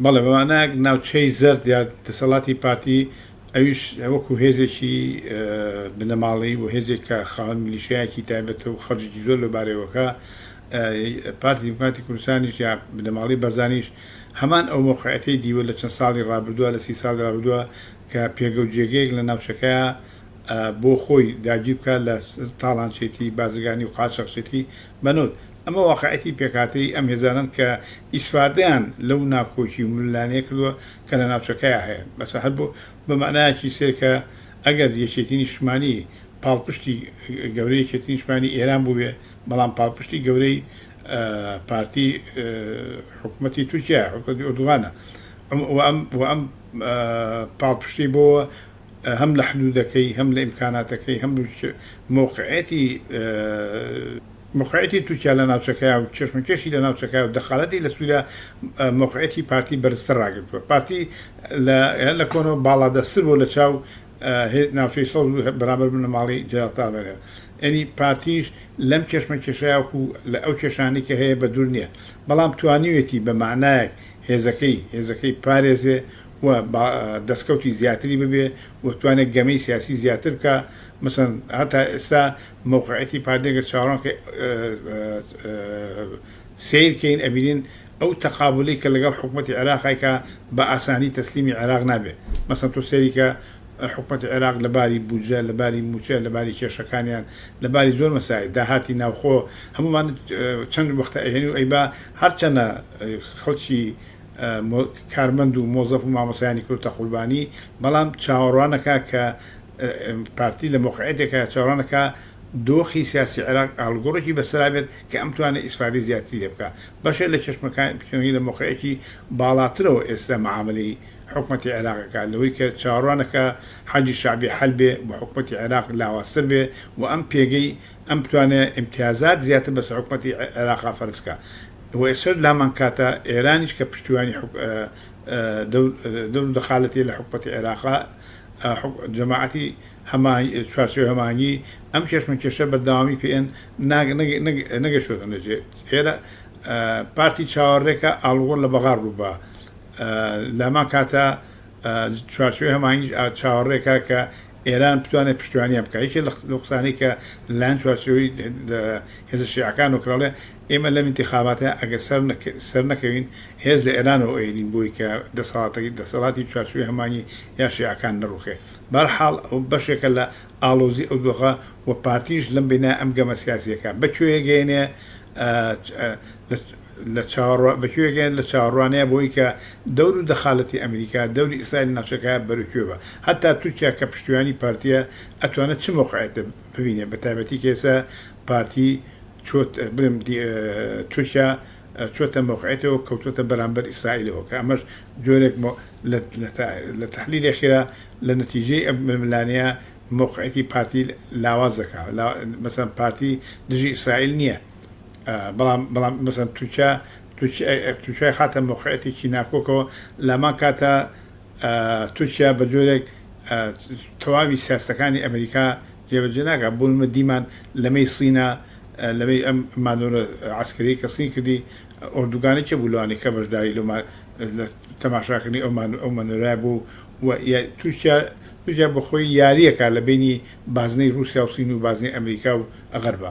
بەڵێ بە مانایەک ناوچەی زەرد یا دەسەڵاتی پارتی ئەویش وەکو هێزێکی بنەماڵەیی و هێزێک کە خاوەن میلیشیایەکی تایبەتە و خەرجێکی زۆر لەو بارەیەوەکا پارتی دیموکراتی کوردستانیش یا بنەماڵەی بەرزانیش هەمان ئەو مەوقعەتەی دیوە لە چەند ساڵی ڕابردوە لە سی ساڵی ڕابردوە کە پێگە و جێگەیەک لە ناوچەکەیا بۆ خۆی داگیر بکا لە تاڵانچێتی بازرگانی و قاچاخچێتی بەنوت، ئەمە واقعیەتی پێکهاتەیی ئەم هێزانەن کە ئیسفادەیان لەو ناکۆکی و ململانێیە کردوە کە لە ناوچەکەیا هەیە، بەس هەر بۆ بە مەعنایەکی سەیر کە ئەگەر یەکێتی نیشتمانی پاڵپشتی گەورەی یەکێتی نیشتمانی ئێران بوبێ بەڵام پاڵپشتی گەورەی پارتی حکومەتی تورکیایە حکومەتی ئۆردوغانە و ئەم پاڵپشتی بۆ هەم لە حدوودەکەی هەم لە ئیمکاناتەکەی هەم مەوقعیەتی مەوقعیەتی تورکیا لە ناوچەکەیا و کێشمەکێشی لە ناوچەکەیا و دەخالەتی لە سووریا مەوقعیەتی پارتی بەرزتر ڕاگرتووە پارتی لە لە کۆنەوە باڵادەستتر بۆ لە چاو ناوچەی سەوز و بەرامبەر بنەماڵی جەلال تاڵەبانی ئەنی پارتیش لەم کێشمە کێشەیا وکو لە ئەو کێشانی کە هەیە بە دوور نییە بەڵام توانیوێتی بە معنایەک هێزەکەی هێزەکەی پارێزێ و دەسکەوتی زیاتری ببێ و بتوانێ گەمەی سیاسی زیاتر بکا مەسەن هەتا ئێستا مەوقعیەتی پارتی گەر چاوەڕوان کەین سەیر کەین ئەبینین ئەو تەقابولی کە لەگەڵ حکومەتی عێراق ئەیکا بە ئاسانی تەسلیمی عێراق نابێ مەسەن تۆ سەیری کە حکومەتی عێراق لە باری بودجە لە باری موچە لە باری کێشەکانیان لە باری زۆر مەسایل داهاتی ناوخۆ هەموومان چەند وەختە ئەیێنی و ئەیبا هەرچەنە خەڵکی کارمەند و مۆزەف و مامۆستایانی کردوتە قوربانی، بەڵام چاوەڕوانەکا کە پارتی لە مەوقعیەتێکایە چاوەڕوانەکا دۆخی سیاسی عێراق ئاڵوگۆڕێکی بەسەرا بێت کە ئەم توانێت ئیسفادەی زیاتری لێ بکا. بەشێ لە چەشمەکانی پێشەنگی لە مەوقعێکی باڵاترەوە ئێستا معامەلەی حکومەتی عێراق ئەکا لەوەی کە چاوەڕوانەکا حەشدی شەعبی حەل بێ و حکومەتی عێراق لاوازتر بێ و ئەم پێگەی ئەم بتوانێ ئیمتیازات زیاتر بەسەر حکومەتی عێراقا فەرز کا و ئێسەر لامان کاتە ئێرانیش کە پشتیوانی حک دەور و دەخالەتی لە حکومەتی عێراقا جەماعەتی هەما چوارچێوەی هەمانگی ئەم کێشمەکێشە بەردەوامی پێ ئێن نەگەشتوەتە نەجێ ئێرە پارتی چاوەڕێکە ئاڵوگۆڕ لە بەغا ڕووبا لامان کاتە چوارچێوەی هەمانگیش چاوەڕێکە کە ئێران بتوانێت پشتیوانیان بکات یەکێک لە لەو قسانەی کە لەلایەن چوارچێوەی هێزە شیعەکانەوە کرا بڵێ ئێمە لەم ئینتیخاباتە ئەگەر سەر سەر نەکەوین هێز لە ئێرانەوە ئەیەنین بۆی کە دەسەڵاتەکەی دەسەڵاتی چوارچێوەی هەمانی یا شیعەکان نەڕوخێ بەرحاڵ ئەو بەشێکە لە ئاڵۆزی ئەو دۆخە و پارتیش لەم بینای ئەم گەمە سیاسیەکە بە کوێیە گەیەنێ لە چاوەڕوا بە کوێ گەیەن لە چاوەڕوانیە بەوەی کە دەور و دەخالەتی ئەمریکا دەوری ئیسرائیل ناوچەکە بەرو کوێ بە هەتا تورکیا کە پشتیوانی پارتیە ئەتوانێ چ مەوقعێت ببینێ بە تایبەتی کە ئێستا پارتی چۆت بلێم دی تورکیا چۆتە مەوقعێتەوە کەوتۆتە بەرامبەر ئیسرائیلەوە کە ئەمەش جۆرێک مۆ لە لە تا لە تەحلیلێ خێرا لە نەتیجەی ئەم ململانێیە مەوقعێتی پارتی لاواز دەکا لا مەسەن پارتی دژی ئیسرائیل نیە بەڵام بەڵام مەسەن تورکیا تورکیای خاتە مۆقعەتێکی ناکۆکەوە لامان کاتە تورکیا بە جۆرێک تەواوی سیاستەکانی ئەمریکا جێبەجێ ناکە بوونمە دیمان لەمەی سینە لەمەی ئەم مانۆرە عسکری کە سین کردی ئۆردوگانی چ بوو لەوانی کە بەشداری لە تەماشاکردنی ئەومان ئەو مەنۆرای بوو و تورکیا تورکیا بەخۆی یاریەکە لە بینی بازنەی رووسیا و سین و بازنەی ئەمریکا و ئەغەربە